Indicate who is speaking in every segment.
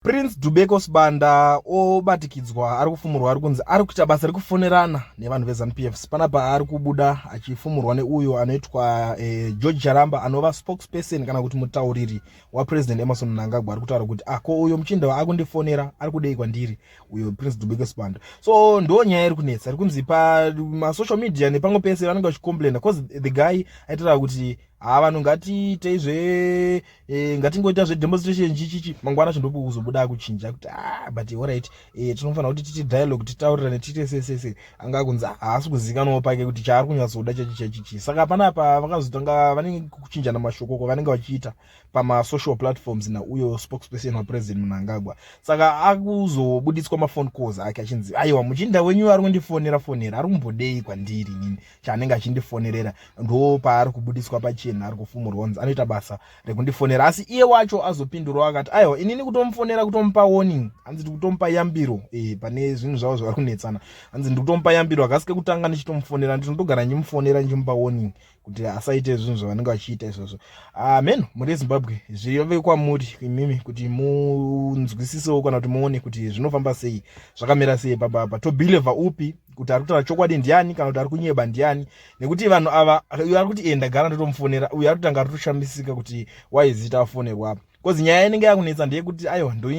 Speaker 1: Prince Dubeko Sibanda obatikidzwa ari kufumurwa ari kunzi ari kuita basa rekufonerana nevanhu veZanu PFs panapa ari kubuda achifumurwa neuyo anoitwa eh, George Charamba anova spokesperson kana kuti mutauriri waPresident Emerson Mnangagwa ari kutaura kuti ako ah, uyo muchinda waakundifonera ari kudei kwandiri uyo Prince Dubeko Sibanda so ndo nyaya iri kunetsa ari kunzi pamasocial media nepamwe pese vanenge vachicomplaina cause the guy aitaura kuti haa ah, vanhu ngatiitei zve e, ngatingoita zvedemonstration chichichi mangwana chindokuzobuda kuchinja kuti a ah, but orit e, eh, tinofanira kuti titi dialogue titaurirane tiite sesese anga kunzi ah, haasi kuzikanwa pake kuti chaari kunyatsoda chachi chachichi saka panapa vakazotanga vanenge kuchinjana mashokoko vanenge vachiita pamasocial platforms nauyo spokesperson wapresident munangagwa saka akuzobuditswa mafone calls ake achinzi aiwa muchinda wenyu ari kundifonera fonera ari kumbodei kwandiri nini chaanenge achindifonerera ndo paari kubudiswa pachena ari kufumurwa nzi anoita basa rekundifonera asi iye wacho azopindurawo akati aiwa inini kutomufonera kutomupa warning hanzi ndikutomupa yambiro e, pane zvinhu zvavo zvavari kunetsana hanzi ndikutomupa yambiro hakasike kutanga ndichitomufonera ndinotogara ndichimufonera ndichimupa warning kuti asaite zvinhu zvavanenge vachiita izvozvo ah, mhen uh, muri ezimbabwe zviyove kwamuri imimi kuti munzwisisewo kana kuti muone kuti zvinofamba sei zvakamira sei pababa tobhilevha upi kuti ari kutaura chokwadi ndiani kana kuti ari kunyeba ndiani nekuti vanhu ava uyo ari kuti enda gara ndotomufonera uyo ari kutanga ari kutoshamisika kuti waizita afonerwa apa bcause nyaya inenge yakunetsa ndeyekuti aiwa ndo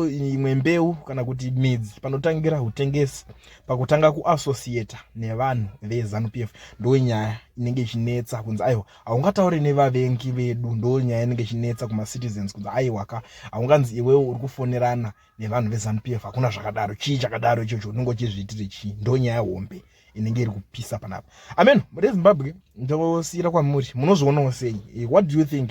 Speaker 1: imwe mbeu kana kuti midzi panotangira utengesi pakutanga kuassociata nevanhu vezanu p f ndo nyaya inenge ichinetsa kunzi aiwa haungataure nevavengi vedu ndo nyaya inenge ichinetsa kumacitizens kunzi aiwa ka haunganzi iwewo uri kufonerana nevanhu veZanu PF hakuna zvakadaro chii chakadaro ichocho unenge uchizviitire chii ndonyaya hombe inenge iri kupisa panapa amen rezimbabwe ndosiyira kwamuri munozvionawo sei eh, what do you think